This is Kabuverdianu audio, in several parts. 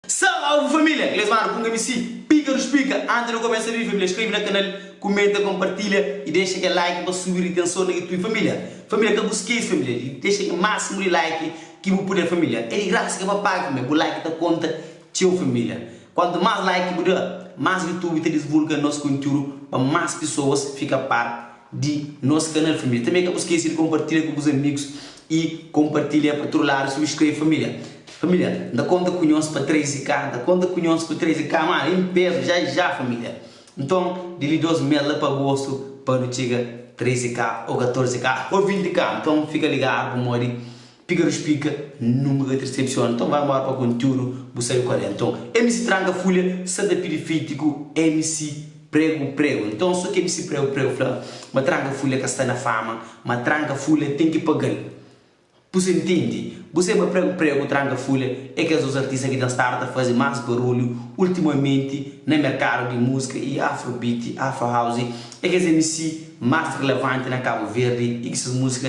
Salve família! Inglês Manu Punga MC Pika dos Pika Antes de começa vídeo família Inscreve na canal Comenta Compartilha E deixa kel like pa subi ritenson na YouTube família Família ka bu skês família di deixa kel máximo di like ki bu puder família É di graça ka pa paga família Bu like ta conta txeu família Quanto más like ki bu da más YouTube ta disvulga nos conteúdo pa más pessoas fica par di nos kanal família. Tanbê ka bu skese di konpartilha ku bus amigus i konpartilha pa tudu ladu subscreve família família N ta konta ku nhos pa 13k N ta konta ku nhos ku 13k ma i N peza ja i ja família Nton di li dos mês la pa agostu pa nu txiga 13k ô 14k ô 20k Nton fika ligadu pamodi Piga nu splika nunka ka trsepsiona nton vai mora pa kontiudu bu sabe kual é nton mc tranka fulha sa ta pidi fiti ku mc pregu pregu nton so ki mc pregu pregu fla ma tranka fulha ka sta na fama ma tranka fulha ten ki pagal pu se ntindi bu se ma pregu pregu tranka fulha é kes dos artista ki ten stadu ta fazi mas barulhu ultimamenti na merkadu di musika y afrobeat afrohouse é kes mc mas relevanti na kabu verdi y ki ses musika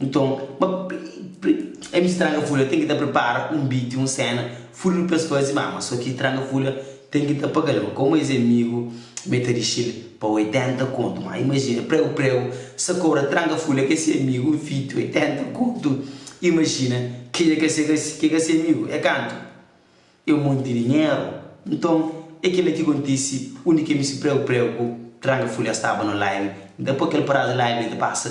Nton, ma pri, pri, é bi stranga fula ten ki ta pripara un biti, un séna, furbi pa es faze má, ma so ki tranga fula ten ki ta paga-l. Ma kómu es é migu, ma e ta dixi-l pa 80 kontu. Má imajina, pregu, pregu, sa kobra tranga fula ki é se migu un fiti, 80 kontu. Imajina, kenha ka sega si, ki é ka se migu, é kantu? É un monti dinheru. Nton, é kel-la ki kontise undi ki mi si pregu pregu tranga fulha staba no laimi. Dipô kel prazu laimi di pasa.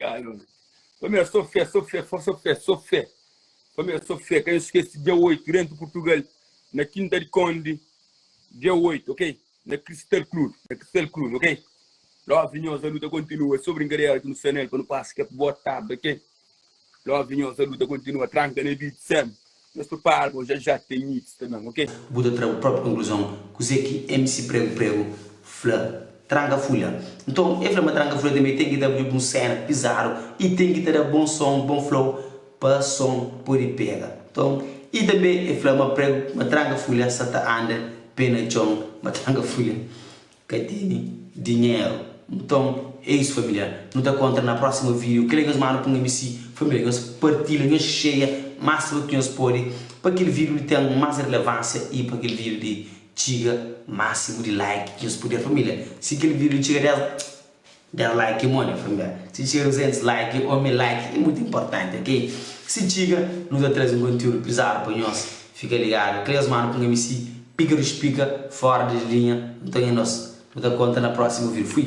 Ai, meu Deus. Família, sou fé, sou fé, fo- sou fé, sou fé. Família, sou fé. Quem esquece, dia 8, dentro de Portugal, na Quinta de Conde, dia 8, ok? Na Crystal Club, na Crystal Club, ok? Love nhosa, a luta continua. Sou brincadeira que no Sanel, para não passar que é boa tarde, ok? Love di nhos alu ta kontinua tranka na beat sem nhos pripara bo já já tem mix também ok. Bu ta tra bu própri konkluzon kuzê ki MC Pregu Pregu fla Tranka Fulha. Nton, el fla ma Tranka Fulha tanbê ten ki da bus un séna pizadu i ten ki ta da bon son, bon flow pa son pode pega. Nton, i tanbê el fla ma Pregu ma Tranka Fulha sa ta anda pé na txon ma Tranka Fulha Ka teni dinheru. Nton é isu família, nu ta kontra na próximo vídeo kel é nhos manu punga mi si família nhos partilha nhos xeia máximo ki nhos pode pa kel vídeo li ten más relevánsia i pa kel vídeo li txiga máximo di like ki nhos puder família si kel vídeo li txiga 10 Der like ki modi familia. Si txiga nos entes like o mi like e mutu importante ok si txiga nu ta trazi un kontiudu pizadu pa nhos fika ligadu cleus manu ku ngami si pika di spika fora di linha nton e nos nu ta konta na prosimu vidiu fui.